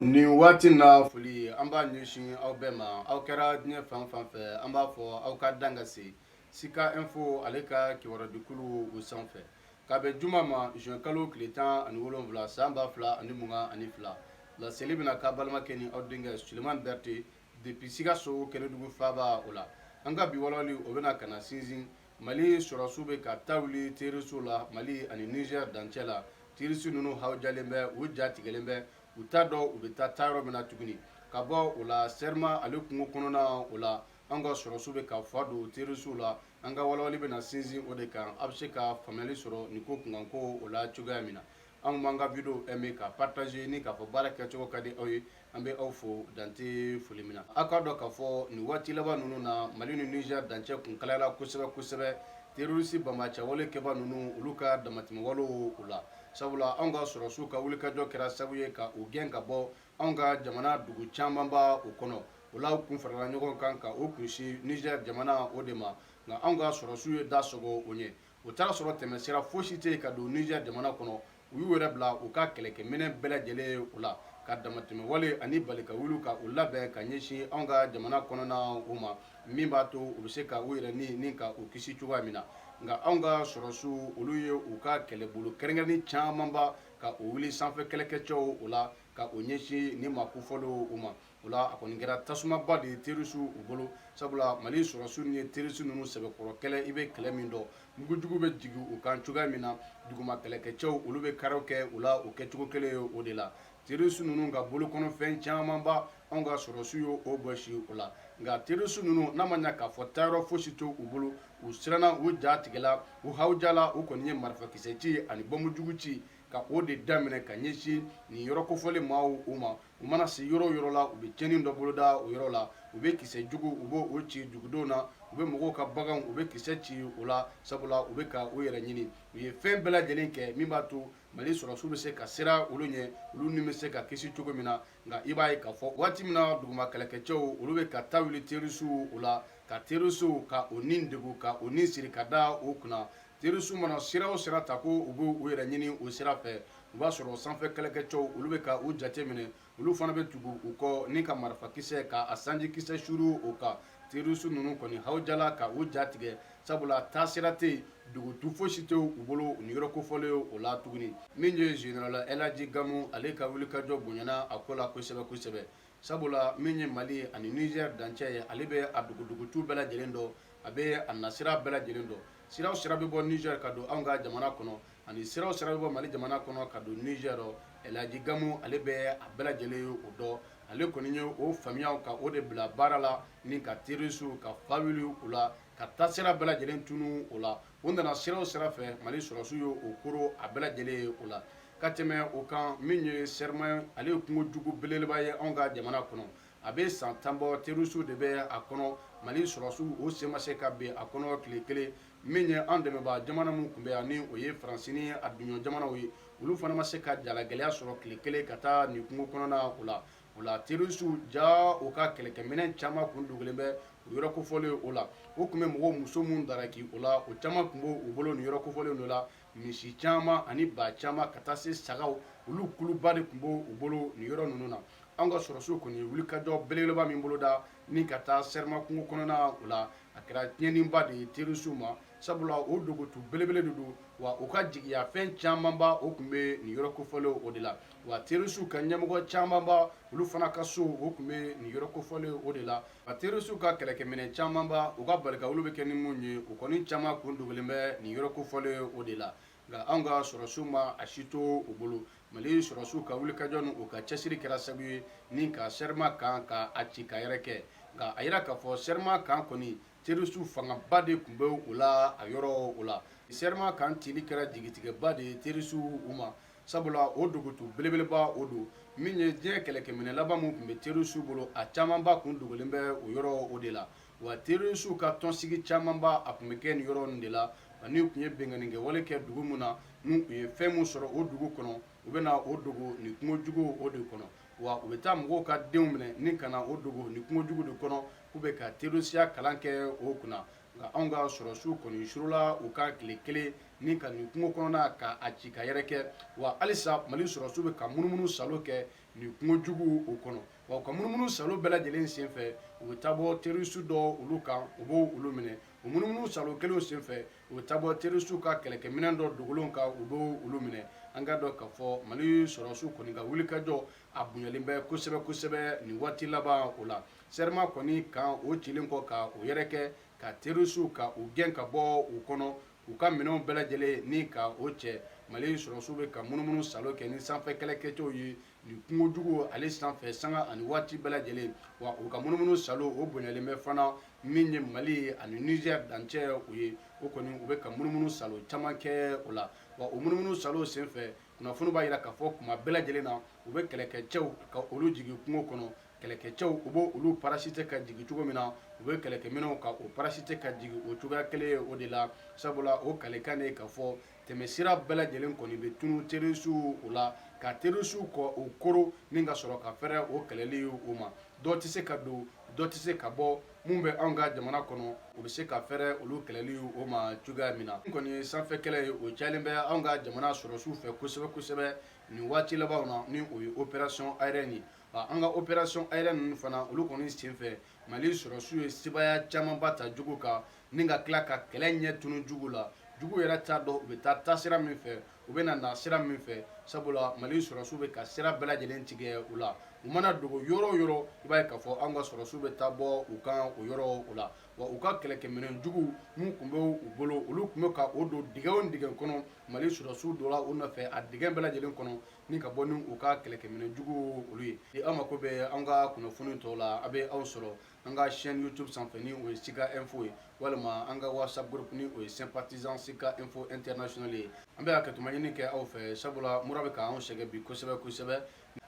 Nin waati na foli an b'a ɲɛsin aw bɛɛ ma aw kɛra diɲɛ fan fan fɛ an b'a fɔ aw ka dan ka se Sika Info ale ka kibarudikulu o sanfɛ k'a bɛn juma ma zuwɛnkalo tile tan ani wolowula san ba fila ani mugan ani fila laseli bɛna k'a balimakɛ ni aw denkɛ sulemani berete depi sikaso kenedugu faba o la an ka bi walawali o bɛna ka na sinsin mali sɔrɔsiw bɛ ka ta wuli terisiw la mali ani nizɛri dancɛ la terisi ninnu hawujalen bɛ u ja tigɛlen bɛ u t'a dɔn u bɛ taa taa yɔrɔ min na tuguni ka bɔ o la serima ale kungo kɔnɔna o la an ka sɔrɔsiw bɛ ka fa don terisiw la an ka walawali bɛna sinsin o de kan a bɛ se ka faamuyali sɔrɔ nin ko kunkanko o la cogoya min na an b'an ka video aimer ka partager ni k'a fɔ baara kɛcogo ka di aw ye an bɛ aw fo dan tɛ foli min na aw k'a dɔn k'a fɔ nin waati laban ninnu na mali ni nizɛri dancɛ kun kalayala kosɛbɛ kosɛbɛ terorisi banbaanci wale kɛba ninnu olu ka damatɛmɛwalew o la sabula anw ka sɔrɔsiw ka wulikajɔ kɛra sababu ye ka u gɛn ka bɔ anw ka jamana dugu camanba o kɔnɔ o la u kun farala ɲɔgɔn kan ka u kunsin nizɛri jamana o de ma nka anw ka sɔrɔsiw ye da sɔgɔ o ɲɛ u taara sɔrɔ tɛmɛsira fosi tɛ yen ka don nizɛri jamana kɔnɔ u y'u yɛrɛ bila u ka kɛlɛkɛminɛn bɛɛ lajɛlen ye o la ka damatɛmɛwale ani balikawuliw ka u labɛn ka ɲɛsin anw ka jamana kɔnɔna o ma min b'a to u bɛ se ka u yɛrɛ ɲini ka u kisi cogoya min na nka anw ka sɔrɔsiw olu ye u ka kɛlɛbolo kɛrɛnkɛrɛnnen camanba ka u wuli sanfɛ kɛlɛkɛcɛw o la ka u ɲɛsin nin maa kofɔlenw u ma o la a kɔni kɛra tasumaba de ye terisiw u bolo sabula mali sɔrɔsiw ni ye terisi ninnu sɛbɛkɔrɔ kɛlɛ i bɛ kɛlɛ min dɔn mugujugu bɛ jigin u kan cogoya min na duguma kɛlɛkɛcɛw olu bɛ karaw kɛ u la o kɛcogo kelen ye o de la Terisu ninnu ka bolo kɔnɔfɛn camanba anw ka sɔrɔsiw ye o bɔsi o la nka terisu ninnu n'a ma ɲɛ k'a fɔ taayɔrɔ fosi tɛ u bolo u siranna u ja tigɛla u hawujala u kɔni ye marifakisɛ ci ani bɔnbu jugu ci ka o de daminɛ ka ɲɛsin nin yɔrɔ kofɔlen maaw u ma u mana se yɔrɔ o yɔrɔ la u bɛ cɛnni dɔ boloda o yɔrɔ la u bɛ kisɛ jugu u bɛ o ci dugudenw na u bɛ mɔgɔw ka baganw u bɛ kisɛ ci o la sabula u bɛ ka u yɛrɛ ɲini u ye fɛn bɛɛ lajɛlen kɛ min b'a to mali sɔrɔsiw bɛ se ka siran olu ɲɛ olu ni bɛ se ka kisi cogo min na nka i b'a ye k'a fɔ waati min na duguma kɛlɛkɛcɛw olu bɛ ka ta wuli terisiw o la ka terisiw ka o ni degun ka o ni siri ka da o kunna terisiw mana sira o sira ta ko u b'u yɛrɛ ɲini o sira fɛ u b'a sɔrɔ sanfɛ kɛlɛkɛcɛw olu bɛ ka u jate minɛ olu fana bɛ tugu u kɔ ni ka marifakisɛ ka a sanjikisɛ suru o kan terisu ninnu kɔni hawujala ka u ja tigɛ sabula taasira tɛ yen dugutu fosi tɛ u bolo nin yɔrɔ kofɔlen ye o la tuguni min ye zenerali ɛlaji gamu ale ka wulikajɔ bonyana a ko la kosɛbɛ kosɛbɛ sabula min ye mali ani nizɛri dancɛ ye ale bɛ a dugu dugutu bɛɛ lajɛlen dɔn a bɛ a nasira bɛɛ lajɛlen dɔn Sira o sira bɛ bɔ Niger ka don anw ka jamana kɔnɔ ani sira o sira bɛ bɔ Mali jamana kɔnɔ ka don Niger El Hadji Gamou ale bɛ a bɛɛ lajɛlen ye o dɔn ale kɔni ye o faamuya ka o de bila baara la ni ka terrorists ka fa wuli u la ka taasira bɛɛ lajɛlen tunun u la u nana sira o sira fɛ Mali sɔrɔdasiw ye u koron a bɛɛ lajɛlen ye o la ka tɛmɛ o kan min ye Serma ale ye kungo jugu belebeleba ye anw ka jamana kɔnɔ a bɛ san tan bɔ terisiw de bɛ a kɔnɔ mali sɔrɔsiw o sen ma se ka bin a kɔnɔ tile kelen min ye an dɛmɛbaa jamana min tun bɛ yan ni o ye faransi ni a dunɲɔgɔn jamanaw ye olu fana ma se ka jalagɛlɛya sɔrɔ tile kelen ka taa nin kungo kɔnɔna o la o la terisiw jaa u ka kɛlɛkɛminɛ caman kun dogolen bɛ o yɔrɔ kofɔlen o la u tun bɛ mɔgɔw muso minnu daraki o la o caman tun b'u bolo nin yɔrɔ kofɔlen o la misi caman ani ba caman ka taa se sagaw olu kuluba de tun b'u bolo nin yɔrɔ ninnu na anw ka sɔrɔsiw kɔni ye wulikajɔ belebeleba min boloda ni ka taa Serma kungo kɔnɔna o la a kɛra tiɲɛniba de ye terisiw ma sabula o dogotu belebele de don wa u ka jigiya fɛn camanba o tun bɛ nin yɔrɔ kofɔlen o de la wa terisiw ka ɲɛmɔgɔ camanba olu fana ka so o tun bɛ nin yɔrɔ kofɔlen o de la A terroristes ka kɛlɛkɛminɛ caman ba u ka balikawuli bɛ kɛ ni minnu ye, u kɔni caman kun dogolen bɛ nin yɔrɔ kofɔlen o de la, nka anw ka sɔrɔdasiw ma a si to u bolo. Mali sɔrɔdasiw ka wulikajɔ ni u ka cɛsiri kɛra sabu ye ni ka Serma kan ka a ci ka yɛrɛkɛ, nka a jira k'a fɔ Serma kan kɔni terroristes fangaba de tun bɛ o la a yɔrɔ o la. Serma kan cili kɛra jigitigɛba de ye terroristes ma. sabula o dogotu belebeleba o don min ye diɲɛ kɛlɛkɛminɛ laban min tun bɛ terrorisiw bolo a camanba tun dogolen bɛ o yɔrɔ o de la wa terrorisiw ka tɔnsigi camanba a tun bɛ kɛ nin yɔrɔ ninnu de la ani u tun ye binkannikɛwale kɛ dugu min na n'u ye fɛn min sɔrɔ o dugu kɔnɔ u bɛ na o dogo nin kungo jugu o de kɔnɔ wa u bɛ taa mɔgɔw ka denw minɛ ni ka na o dogo nin kungo jugu de kɔnɔ k'u bɛ ka terrorisiya kalan kɛ u kunna nka anw ka sɔrɔsiw kɔni surula u kan tile kelen ni ka nin kungo kɔnɔna ka a ci ka yɛrɛkɛ wa halisa mali sɔrɔsiw bɛ ka munumunu salo kɛ nin kungo jugu o kɔnɔ wa u ka munumunu salo bɛɛ lajɛlen senfɛ u bɛ taa bɔ terisiw dɔ olu kan u bɛ olu minɛ o munumunu salo kelenw senfɛ u bɛ taa bɔ terisiw ka kɛlɛkɛminɛn dɔ dogolenw kan u bɛ olu minɛ an k'a dɔn k'a fɔ mali sɔrɔsiw kɔni ka wulikajɔ a bonyalen bɛ kosɛbɛ kosɛbɛ nin waati laban o la Serma kɔni kan o cilen kɔ ka o yɛrɛkɛ ka terrorists ka u gɛn ka bɔ o kɔnɔ k'u ka minɛnw bɛɛ lajɛlen ni ka o cɛ mali sɔrɔdasiw bɛ ka munumunu salo kɛ ni sanfɛ kɛlɛkɛcɛw ye nin kungo jugu ale sanfɛ sanga ani waati bɛɛ lajɛlen wa u ka munumunu salo o bonyalen bɛ fana min ye mali ani niger dancɛ o ye o kɔni u bɛ ka munumunu salo caman kɛ o la wa o munumunu salo senfɛ kunnafoni b'a jira k'a fɔ kuma bɛɛ lajɛlen na u bɛ kɛlɛkɛcɛw ka olu jigin kungo kɔnɔ kɛlɛkɛcɛw u bɛ olu parachuté ka jigin cogo min na u bɛ kɛlɛkɛminɛnw ka o parachuté ka jigin o cogoya kelen ye o de la sabula o kalikan de ye k'a fɔ tɛmɛsira bɛɛ lajɛlen kɔni bɛ tunu terrorisiw o la ka terrorisiw kɔ o koro ni ka sɔrɔ ka fɛrɛ o kɛlɛli o ma dɔ tɛ se ka don dɔ tɛ se ka bɔ mun bɛ anw ka jamana kɔnɔ u bɛ se ka fɛrɛ olu kɛlɛli o ma cogoya min na n kɔni ye sanfɛ kɛlɛ ye o cayalen bɛ anw ka jamana sɔrɔsiw fɛ kosɛbɛ kosɛbɛ nin waati labanw na ni o ye opération aérienne ye an ka opération aérienne ninnu fana olu kɔni senfɛ Mali sɔrɔdasiw ye sebaaya camanba ta jugu kan ni ka tila ka kɛlɛ ɲɛ tunun jugu la jugu yɛrɛ t'a dɔn u bɛ taa taasira min fɛ u bɛ na nasira min fɛ sabula Mali sɔrɔdasiw bɛ ka sira bɛɛ lajɛlen tigɛ u la u mana dogo yɔrɔ o yɔrɔ i b'a ye k'a fɔ anw ka sɔrɔdasiw bɛ taa bɔ u kan o yɔrɔ o la wa u ka kɛlɛkɛminɛn jugu min tun bɛ u bolo olu tun bɛ ka o don dingɛ o dingɛ kɔnɔ mali sɔrɔsiw donna u nɔfɛ a dingɛ bɛɛ lajɛlen kɔnɔ ni ka bɔ ni u ka kɛlɛkɛminɛn jugu olu ye ni aw mako bɛ an ka kunnafoni tɔw la a bɛ aw sɔrɔ an ka chaîne youtube sanfɛ ni o ye sika info ye walima an ka whatsapp groupe ni o ye sympathisant sika info international ye an bɛ hakɛtuma ɲini kɛ aw fɛ sabula mura bɛ k'an sɛgɛn bi kosɛbɛ kosɛbɛ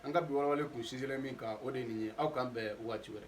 an ka bi walawale kun sinsinlen min kan o de ye nin ye aw k'an bɛn waati wɛrɛ